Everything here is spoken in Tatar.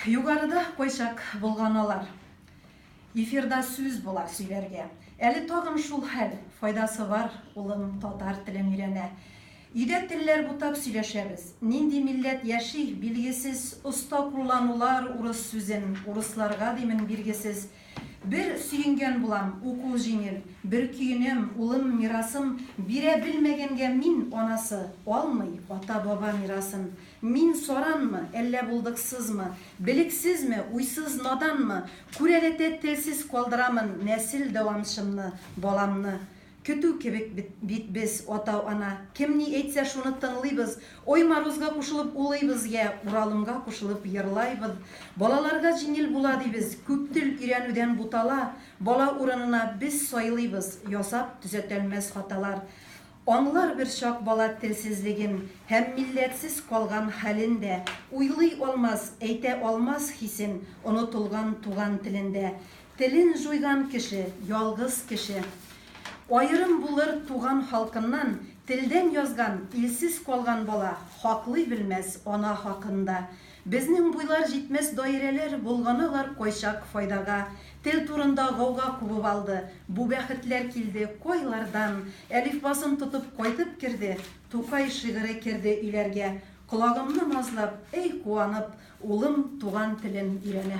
Югарыда кайчак болганалар. Эфирда сүз була сөйләргә. Әле тагын шул хәл. Файдасы бар, улым татар телен өйрәнә. Өйдә телләр бутап сөйләшәбез. Нинди милләт яши, билгесез, оста кулланулар урыс сүзен, урысларга димен, биргесез. Бер сөенгән булам, укуы җиңел, бер көенәм, улым мирасым бирә белмәгәнгә мин анасы, алмый ата-баба мирасын. Мин саранмы, әллә булдыксызмы, белексезме, уйсыз наданмы, күрәләтә телсез калдырамын нәсел дәвамчымны, баламны. Көтү кебек бит без, ата-ана. Кем ни әйтсә, шуны тыңлыйбыз. Ой морозга кушылып улыйбыз, йә Уралымга кушылып ерлайбыз. Балаларга җиңел була дибез, күп тел өйрәнүдән бутала. Бала урынына без сайлыйбыз, ясап төзәтәлмәс хаталар. Аңлар бер чак бала телсезлеген һәм милләтсез калган хәлен дә. Уйлый алмас, әйтә алмас хисен, онытылган туган телендә. Телен җуйган кеше, ялгыз кеше. Аерым булыр туган халкыннан, Телдән язган, илсез калган бала Хаклый белмәс ана хакын да. Безнең буйлар җитмәс даирәләр Болганалар кайчак файдага. Тел турында гауга кубып алды, Бу бәхетләр килде кайлардан. Әлифбасын тотып кайтып керде, Тукай шигыре керде өйләргә. Колагымны назлап, әй куанып, Улым туган телен өйрәнә.